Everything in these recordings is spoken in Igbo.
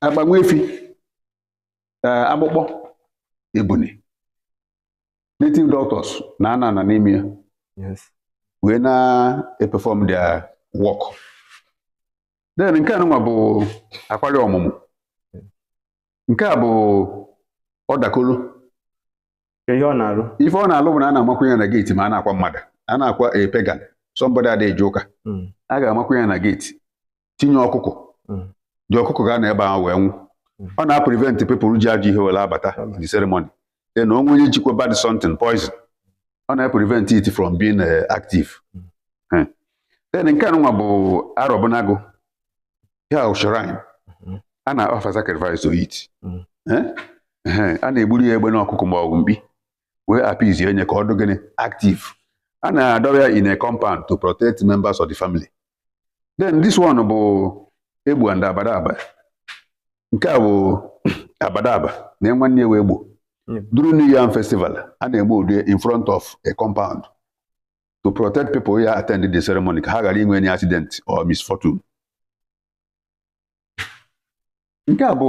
agba nwa efi ee, akpụkpọ ebuni native doctors na-anọ ana n'ime ya Yes. wee na-eperform their work then nke anụnwa bụ akwari ọmụmụ nke a bụ ọdakolo Ka ihe ọ na-arụ. ife ọ na-alụ bụ na a na-amakwu ya na geeti ma a na-akwa mmadụ a na-akwa a pagan somebody ada eje ụka Mm. a ga-amakwu ya na geeti tinye ọkụkọ mm. the ọkụkọ ga-anọ ebe ahụ wee nwụ mm. ọ na-aprevent people ji ajọ ihe were abata the ceremony e na o nwee onye jikwa bad something poison ọ na-aprevent it from being eh, active hmm. then nke anụnwa bụ arọbụnagụ ya shrine mm-hmm. a na-offer sacrifice to it hmm. eh? a na-egburu ya egbene ọkụkọ ma ọ bụ mkpi wee appease ya onye ka ọ dụ gịnị active a na-adọba ya in a compound to protect members of the family then this one bụ egbo and abadaba nke a bụ abadaba na nwanne ya wụ egbo during new yam festival a na-egbu ụdị in front of a compound to protect people ya attend the ceremony ka ha ghara inwe any accident or misfortune nke a bụ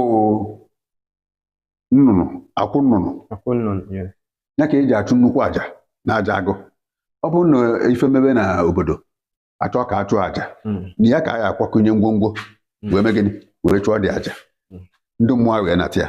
nnụnụ akwụ nnụnụ akwụ nnụnụ yes. ya ka e ji achụ nnukwu aja na aja agụ ọ bụrụ na ife mebe na obodo a chọọ ka a chụọ aja Mm. na ya ka a ya-akwakọnye ngwongwo Mm. wee mee gịnị wee chụọ the aja Mm. ndị mmụọ wee nata ya